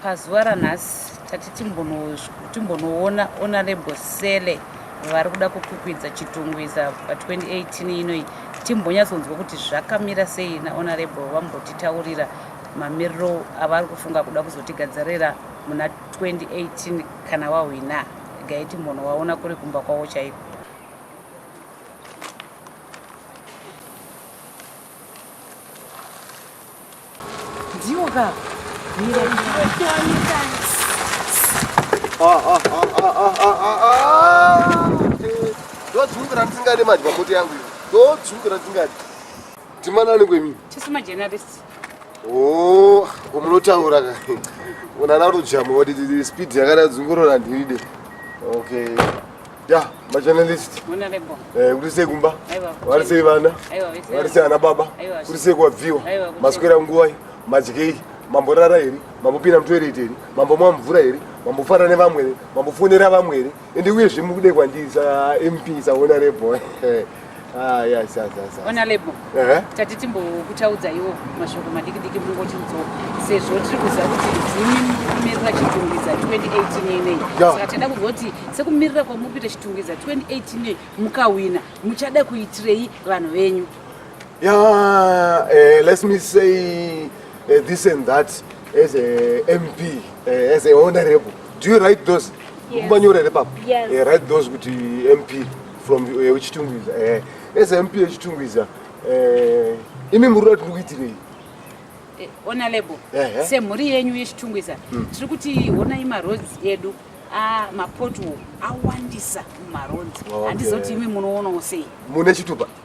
pazuva ranhasi tati timbonoona honorable sele vari kuda kukwikwidza chitungwiza pa2018 inoi timbonyatsonzwa kuti zvakamira sei nahonorable vambotitaurira mamiriro avari kufunga kuda kuzotigadzirira muna 2018 kana wahwina gaiti munhu waona kuri kumba kwavo chaiko ndiwo ka ndodzungura ndisingade madya moto yangu ndodzungura ndisingade timanani kwemini chisima journalist Oh, umunotaura ka. Unana rujamu wadi didi speed yakada dzungurora ndiride. Okay. Ya, ma journalist. Muna lebo. Eh, kuti sei kumba? Aiwa. Vari sei vana? Aiwa, vese. Vari sei ana baba? Aiwa. Kuti sei kwabviwa? Aiwa. Maswera nguwa iyi, madyei, mamborara here? Mambopinda mutoilet here? Mambomwa mvura here? Mambofara nevamwe here? Mambofonera vamwe here? Ende uye zvimude kwandiri sa MP sa honorable. Ah yes yes yes. Honorable. Eh. Tati timbo kutaudza iwo mashoko madiki diki mungo chinzo sezvo tiri kuziva kuti ndimi mumirira chitungiza 2018 nei. Saka tenda kuzoti sekumirira kwamupita chitungiza 2018 nei mukawina muchada kuitirei vanhu venyu. Yeah, uh, let me say uh, this and that as a MP, uh, eh, as a honorable. do you write those kumanyora here papa eh, write those kuti mp from eh, wechitungwiza eh, as mp wechitungwiza imi muri rati ndikuitirei ona label semhuri yenyu yechitungwiza hmm. tiri kuti honai maroads edu ah, mapothol awandisa mumaroads handizoti imi munoonawo sei mune chitupa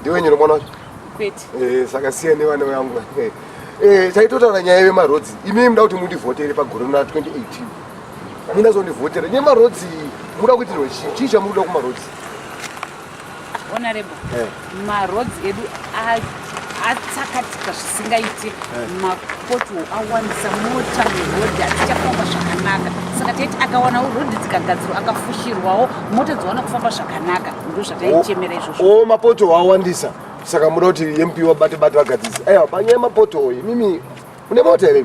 ndiwe nyoro mwana wacho kwete eh saka siya nevana vangu eh, eh taitotaura nyaya yemaroads imi muda kuti mundivhotere pagore na 2018 mina zondivhotera nyemaroads muda kuitirwa chii chii chamuda kumaroads honorable eh. maroads edu atsakatika zvisingaiti eh. mapoto awandisa mota murodhi atichafamba zvakanaka saka taiti akawanawo rodhi dzikagadzirwa akafushirwawo mota dzowana kufamba zvakanaka ndo zvataichemera izvozvo o oh, mapoto awandisa saka muda kuti mp wabate bate vagadzisi aiwa panyaya mapoto oyi mimi une mota here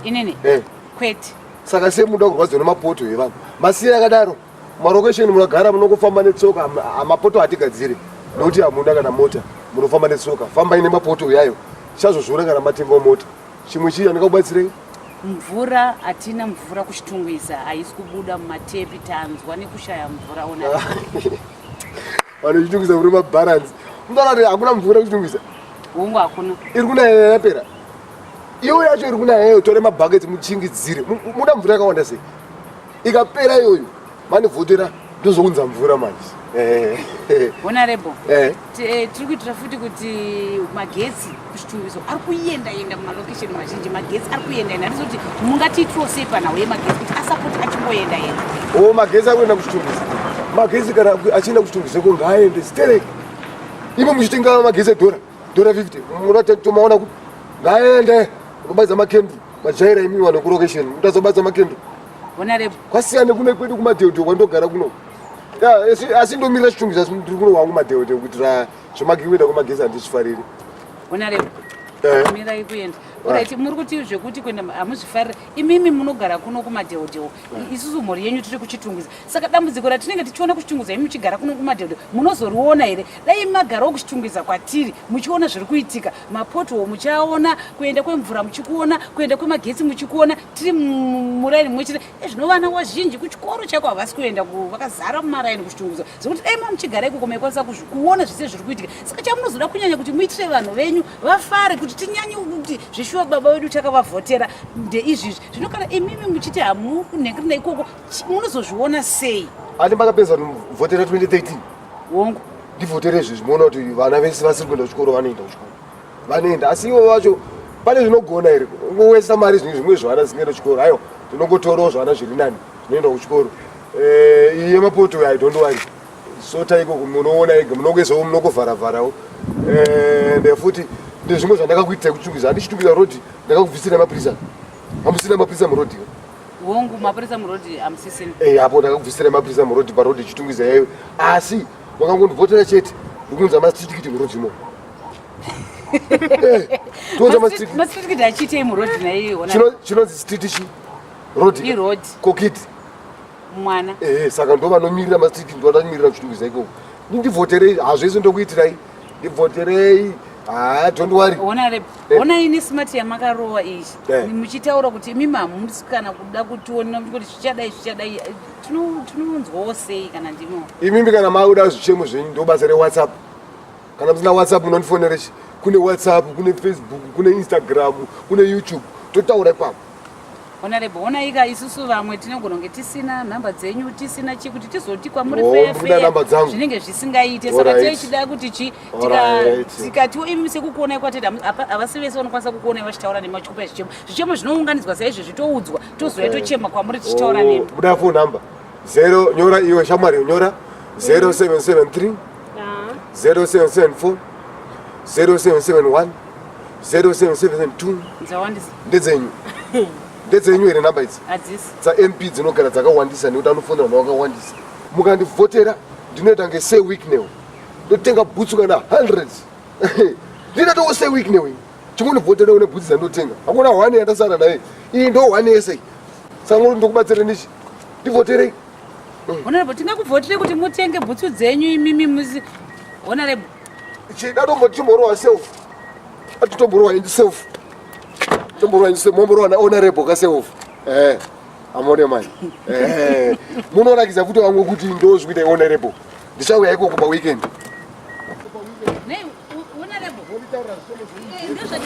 inini eh. kwete saka semuda kurwadziwa nemapoto evanhu masiya akadaro Marokesheni munogara munongofamba netsoka, mapoto hatigadzire nokuti hamuna kana mota, munofamba netsoka. Fambai nemapoto uyayo, chazozviona kana matengawo mota. Chimwe chii andingakubatsirei? mvura hatina mvura kuchitungwiza haisi kubuda mumatepi tanzwa nekushaya mvura ona vanochitungwiza muri mabharanzi mdalati hakuna mvura kuchitungwiza hungu hakuna iri kunaya yapera iyo yacho iri kunaya yayo tore mabhaketi muchingidzire muda mvura yakawanda sei ikapera iyoyo vanivhotera ndozounza mvura manje eh. honorable eh. eh, tiri kuitira futi kuti magetsi kuchitumbiso ari kuenda enda mumalokesheni mazhinji magetsi ari kuenda enda ndizvo kuti mungatiitiro sei panhau yemagetsi kuti asapoti achingoenda enda o oh, magetsi ari kuenda kuchitumbiso magetsi kana achienda kuchitumbiso ko ngaaende stereki imo muchitenga magetsi edhora Dora 50 unotya kutomaona kupi? Ngaende unobaidza makendi majaira imi vanhu kurokesheni mutazobaidza makendi Bona rebo. kwasiyana kune kwedu kumadheodheo kwandogara kuno Ya, asi- asi ndomirira chitungizi asi ndiri kuno wangu madheodheo kuitira zvemagiweda kwemagezi handichifariri Bona rebo. Eh. Mira ikuenda. Alright, muri kuti zvekuti kuenda hamuzvifarira. Imimi munogara kuno kumadheodheo. Isusu mhuri yenyu tiri kuchitungwiza. saka dambudziko ratinenge tichiona kuchitungudza imi muchigara kuno kumadhedho munozoriona here dai magarawo kuchitungudza kwatiri muchiona zviri kuitika mapothol muchiaona kuenda kwemvura muchikuona kuenda kwemagetsi muchikuona tiri muraini mumwe chete ezvino eh, vana wazhinji kuchikoro chaiko havasi kuenda vakazara mumaraini kuchitungudza zvekuti dai ma muchigara ikoko maikwanisa kuona zvese zviri kuitika saka chamunozoda kunyanya kuti muitire vanhu venyu vafare kuti tinyanye kuti zvishuwa baba vedu takavavhotera ndeizvizvi zvino kana imimi muchiti hamunhengirina ikoko munozozviona sei ani makapedza vhotera 2013 wongu ndivhotere izvi zvimoona kuti vana vese vasiri kuenda kuchikoro vanoenda kuchikoro vanoenda asi ivo vacho pane zvinogona here ungowesa mari zvinhu zvimwe zvivana zvisingaenda kuchikoro haiwa tinongotorawo zvivana zviri nani zvinoenda kuchikoro eh, iye mapoto uyo idont wari sota ikoko munoona ega munongoisawo munongovharavharawo eh, and futi ndezvimwe zvandakakuitai kuchungiza handichitungiza rodi ndakakubvisira mapurisa hamusina mapurisa murodiwo hongu mapurisa muroad amusisini eh hapo ndakakubvisira mapurisa muroad paroad chitungwiza yayo asi wakangondivhotera chete ndikunza masitikiti muroad imo eh, tonza masitikiti masitikiti achiitei muroad naye ona chino chino sitikiti chi road i road kokit mwana eh saka ndova nomirira masitikiti ndova nomirira chitungwiza iko ndivhoterei hazvese ndokuitirai ndibvoterei haa don't worry ona rep Eh. ona ini smart yamakarowa iyi Eh. muchitaura kuti imimi hamusi kana kuda kutiona kuti zvichadai zvichadai eh, tino- tinonzwawo sei kana ndimo imimi kana makuda zvichemo zvenyu ndobasa rewhatsapp kana musina whatsapp munondifonera chi kune whatsapp kune facebook kune instagram kune youtube totaura ipapo Honorable, honaika isusu vamwe tinogona kunge tisina nhamba dzenyu tisina chii kuti tizoti kwamuri zvinenge zvisingaite saka tee chida kuti chii tikatiwo imi sekukuonai kwatete havasi vese vanokwanisa kukuonai vachitaura nemi vachikupa zvichemo zvichemo zvinounganidzwa saizvezvi toudzwa tozouya tochema kwamuri tichitaura oh, nemi buda fo number zero nyora iwe shamwari nyora 0773 0774 0771 0772 dzawandisa ndedzenyu ndedzenyu here namba idzi hadzisi dzamp dzinogara dzakawandisa nekuti anofonera vanhu vakawandisa mukandivhotera ndinoita nge say week new ndotenga bhutsu kana hundreds ndinatowo say week new chimunivhotera une bhutsu dzandotenga hakuna hwani yandasara naye iyi ndo hwani yese iyi sangori ndokubatsira nichi ndivhoterei honorable tingakuvhotere kuti mutenge bhutsu dzenyu imimi muzi honorable Chida dombo timborowa self. Atitomborwa in self. Tomborwa in self. Momborwa na honorable ka self. Eh. Amone manje. Eh. Munoona kiza futi wangu kuti ndo zvikuita honorable. Ndichauya iko kuba weekend. Nei, honorable. Womitaura somo zvii. Ndo zvati.